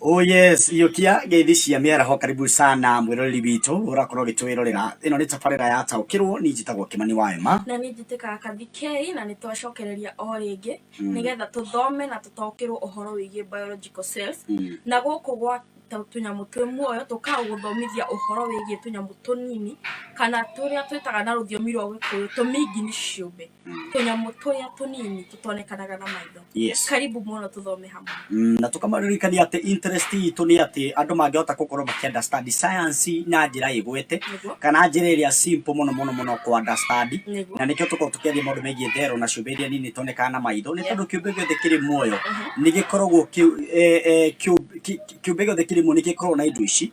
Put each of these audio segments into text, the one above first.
Oh yes, Iyũkia ngeithi cia mĩaraho karibu sana mwĩroreri witũ ũrakorwo ũgĩtwĩrorera ĩno nĩ tabarĩra ya taũkĩrwo niĩ njĩtagwo Kĩmani wa Ema na nĩ njĩtĩkaga kathikei na nĩ twacokereria o rĩngĩ mm. nĩgetha tũthome na tũtaũkĩrwo ũhoro wĩgiĩ biological cells mm. na gũkũ gwa tũnyamũ twĩ muoyo tũkaga gũthomithia ũhoro wĩgiĩ tũnyamũ tũnini kana tũrĩa twĩtaga na rũthiomi rwa gĩkũyũ tũmingi nĩ ciũmbe tũnyamũ tũrĩa tũnini tũtonekanaga na maitho yes karibu mũno tũthome hamwe Mm, na tũkamaririkania atĩ interest itũ nĩ atĩ andũ mangĩhota gũkorwo makĩunderstand science na njĩra ĩgwete Nĩguo. kana njĩra ĩrĩa simple mũno mũno mũno kũunderstand Nĩguo. na nĩkĩo tũkorwo tũkĩaria maũndũ megiĩ therũ na ciũmbe iria nini itonekaga na maitho nĩ tondũ kĩũmbe gĩothe kĩrĩ muoyo nĩ gĩkoragwo kĩ- eh, eh, kĩũ- kĩ- kĩũmbe gĩothe kĩrĩ muoyo nĩ gĩkoragwo na indo ici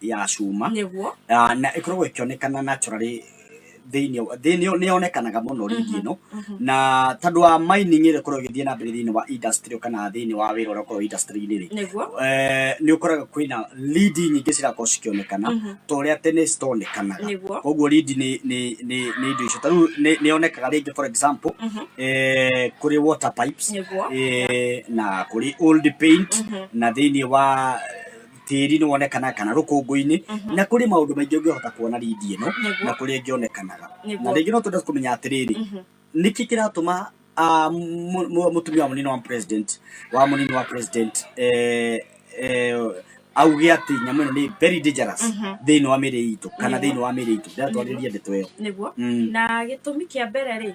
ya cuma nĩguo Ah, na ĩkoragwo ĩkĩonekana naturally thĩinĩ wa- thĩinĩ nĩ yonekanaga mũno rigi ĩno na tondũ wa mining ĩrĩa ĩkoragwo ĩgĩthiĩ na mbere thĩinĩ wa industry kana thĩinĩ wa wĩra ũrĩa ũkoragwo industry-inĩ rĩ nĩguo eh, nĩ ũkoraga kwĩna lead nyingĩ cirakorwo cikĩonekana ta ũrĩa tene citonekanaga Nĩguo. koguo lead nĩ nĩ nĩ nĩ indo icio tarĩu nĩ yonekaga rĩngĩ for example eh, kũrĩ water pipes Nĩguo. eh, na kũrĩ old paint na thĩinĩ wa tĩri nĩ wonekanaga kana rũkũngũ-inĩ mhm. na kũrĩ maũndũ maingĩ ũngĩhota kuona rindi ĩno na kũrĩa ĩngĩonekanaga na rĩngĩ no twende kũmenya atĩrĩrĩ mhm. nĩkĩ kĩratũma mũtumia wa mũnini wa president wa mũnini wa president eh, eh, auge atä nyamå ä no nä very dangerous mhm. thä inä wa mä rä itå kana thä inä wa mä rä itå ndatwarä ria ndeto ä yo na gä tå mi kä a mbere rä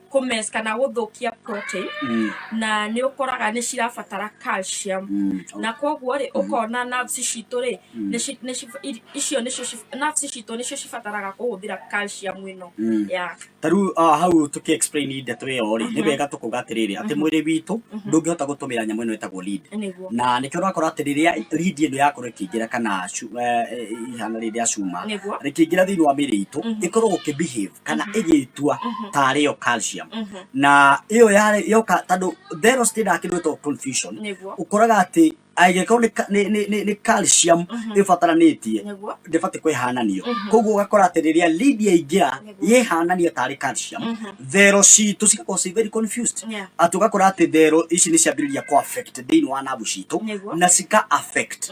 kũmes kana gũthũkia protein Mm, na nĩ ũkoraga nĩ cirabatara calcium mm, na koguo rĩ ũkona nerves citũ rĩ nĩ ci- nĩ ci- i- icio nĩcio ci- nerves citũ nĩcio cibataraga kũhũthĩra calcium ĩno mm. ya ta rĩu ah, hau tũkĩ explain ndeto ĩyo rĩ nĩ wega tũkuga atĩrĩrĩ atĩ mwĩrĩ witũ ndũngĩhota gũtũmĩra nyamũ ĩno ĩtagwo lead nĩguo na nĩkĩo ũrakora atĩ rĩrĩa lead ĩno yakorwo ĩkĩingĩra kana cu- eh, eh, ihana rĩrĩa cuma Nĩguo. rĩkĩingĩra thĩinĩ wa mĩĩrĩ itũ ĩkorwo gũkĩbehave kana ĩgĩtua tarĩ yo calcium na ĩyo yarĩ yoka tondũ thero citindaga kĩndũ gĩtagwo confusion Nĩguo. ũkoraga atĩ angĩkorwo nĩ ka- nĩ- nĩ- nĩ- nĩ calcium ĩbataranĩtie Nĩguo. ndĩbatiĩ kwĩhananio koguo ũgakora atĩ rĩrĩa lead yaingĩra Nĩguo. yĩhanania tarĩ calcium thero citũ cigakorwo ci very confused Yeah. atĩ ũgakora atĩ thero ici nĩ ciambĩrĩria kũ affect thĩinĩ wa nabu citũ Nĩguo. na cika affect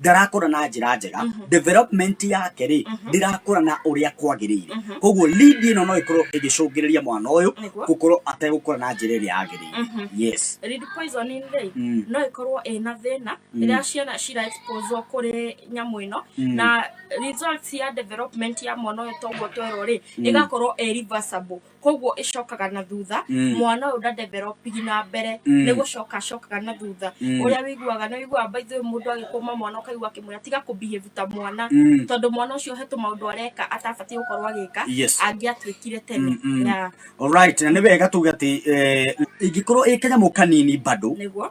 ndarakũra na njĩra njega mhm. development yake rĩ mhm. ndĩrakũra na ũrĩa kwagĩrĩire mhm. koguo lead ĩno no ĩkorwo ĩgĩcũngĩrĩria mwana ũyũ gũkorwo ategũkũra na njĩra ĩrĩa yagĩrĩire yes lead poisoning rĩ mm. no ĩkorwo ĩna thĩna mm. rĩrĩa ciana cira exposwo kũrĩ nyamũ ĩno mm. na results ya development ya mwana ũyũ toguo twerwo rĩ ĩgakorwo ĩ reversible koguo ĩcokaga na thutha Mm. mwana ũyũ ndadevelopigi na mbere Mm. nĩ gũcoka acokaga na thutha Mm. ũrĩa wĩiguaga nĩ wĩiguaga baithu mũndũ agĩkũma mwana ũkaigua akĩmwĩra tiga kũbehave ta mwana Mm. tondũ mwana ũcio hetũ maũndũ areka atabatiĩ gũkorwo agĩka Yes. angĩatuĩkire tene Mm, mm. Yeah, Alright, na nĩ wega tuge atĩ eh, ingĩkorwo ĩ kanyamũ kanini bado nĩguo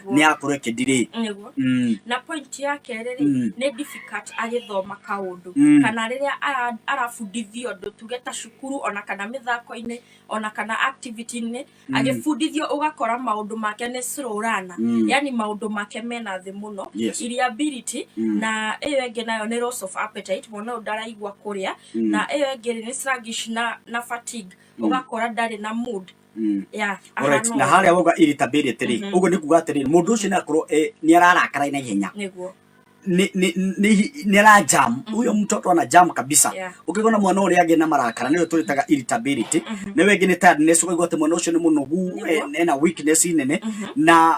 nĩakoretwo nä akorwo ä kä ndirä nĩguo Mm. na point ya kerä rä Mm. nä difficult agĩthoma kaũndũ Mm. kana rĩrĩa ara- arabundithio ũndũ tuge ta cukuru ona kana mĩthako-inĩ ona kana activity-inĩ agĩbundithio ũgakora maũndũ make nĩ slow runner. Mm. yani maũndũ make mena thĩ mũno Yes. iria ability Mm. na ĩyo ĩngĩ nayo nĩ loss of appetite mwana ũyũ ndaraigua kũrĩa Mm. na ĩyo ĩngĩ rĩ nĩ sluggish na, na fatigue ũgakora ndarĩ na mood Mm. Yeah, Alright, ahana na ũũ. harĩa wauga irritability rĩ Mhm. ũguo nĩ kuga atĩrĩ mũndũ ũcio nĩ akorwo eh, nĩ ararakara na ihenya nĩguo Nĩ- nĩ- nĩ- nĩ ara jam huyo mtoto ana jam kabisa Yeah. ũkĩgona mwana ũrĩa agĩ na marakara nĩyo tũrĩtaga irritability na wengĩ nĩ tiredness ũkaigua atĩ mwana ũcio nĩ mũnogu Nĩguo. eh, ena weakness nene na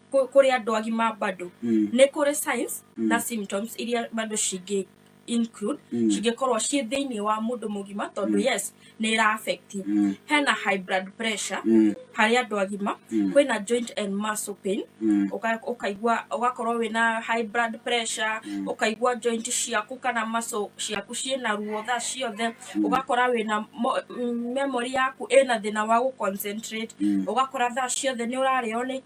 kũ- kũrĩ andũ agima bado Mm. nĩ kũrĩ signs Mm. na symptoms iria bado cingĩ include Mm. cingĩkorwo ciĩ thĩinĩ wa mũndũ mũgima tondũ Mm. yes nĩ ĩra affect Mm. hena high blood pressure Mm. harĩ andũ agima Mm. kwĩna joint and muscle pain Mm. Ũka- ũkaigua ũgakorwo wĩna high blood pressure Mm. ũkaigua joint ciaku kana muscle ciaku ciĩna ruo thaa ciothe Mm. ũgakora wĩna mo- mm, memory yaku ĩna thĩna wa gũconcentrate Mm. ũgakora thaa ciothe nĩ ũrarĩo nĩ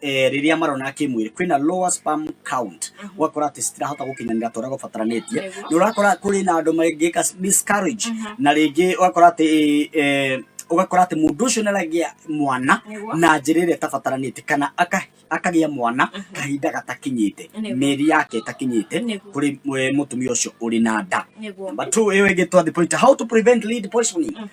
eh, rĩrĩa marona kĩmwĩrĩ kwĩna lower sperm count ũgakora atĩ citirahota gũkinyanĩra tũrĩa gũbataranĩtie Nĩguo. nĩ ũrakora kũrĩ na andũ mangĩka miscarriage na rĩngĩ ũgakora atĩ eh, ũgakora atĩ mũndũ ũcio nĩaragĩa mwana Nĩguo. na njĩra ĩrĩa ĩtabataranĩte kana aka- akagĩa mwana kahinda gatakinyĩte Nĩguo. mĩeri yake ĩtakinyĩte Nĩguo. kũrĩ eh, mũtumia ũcio ũrĩ na nda nĩguo Number two, ĩyo ĩngĩ twathi pointer, how to prevent lead poisoning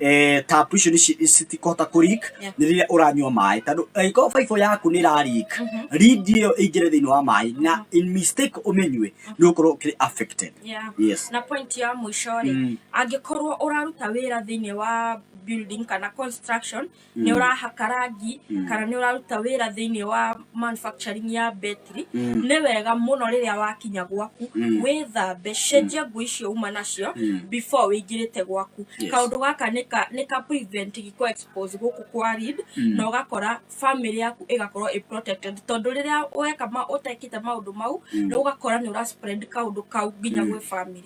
eh, tapu icio nĩci- citikũhota kũrik Yeah. nĩ rĩrĩa ũranyua maĩ tondũ angĩkorwo baibũ yaku nĩ ĩrarik rindi ĩyo ĩingĩre thĩinĩ wa maĩ na in mistake ũmĩnyue nĩ ũkorwo ũkĩrĩ affected Yeah. yes na point ya mũico rĩ Mm. angĩkorwo ũraruta wĩra thĩinĩ wa building kana construction Mm. nĩ ũrahaka rangi Mm. kana nĩ ũraruta wĩra thĩinĩ wa manufacturing ya betri Mm. nĩ wega mũno rĩrĩa wakinya gwaku Mm. wĩthambe cenjia nguo icio uma nacio Mm. before wĩingĩrĩte gwaku Yes. kaũndũ gaka nĩ ka- nĩ ka prevent gĩko expose gũkũ kwa read Mm. na ũgakora family yaku ĩgakorwo ĩ protected tondũ rĩrĩa weka ma ũtekĩte maũndũ mau Mm. nĩ ũgakora nĩ ũra spread kaũndũ kau nginya gwĩ family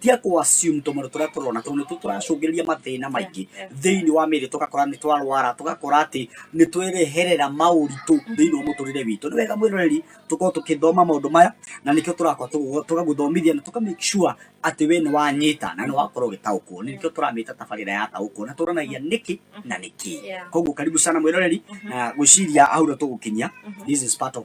Tiga kũ assume tũmaũndũ tũrĩa tũrona tondũ nĩtuo tũracũngĩrĩria mathĩna maingĩ thĩinĩ wa mĩĩrĩ tũgakora nĩ twarwara tũgakora atĩ nĩ twereherera maũritũ thĩinĩ wa mũtũrĩre witũ nĩ wega mwĩroreri tũkorwo tũkĩthoma maũndũ maya na nĩkĩo tũrakorwo tũgũ- tũgagũthomithia na tũka make sure atĩ we nĩ wanyita na nĩ wakorwo ũgĩtaũkwo nĩkĩo tũramĩta tabarĩra ya taũkwo na tũranagia nĩkĩ na nĩkĩ Yeah. koguo karibu sana mwĩroreri na gwĩciria hau nĩ tũgũkinyia this is part of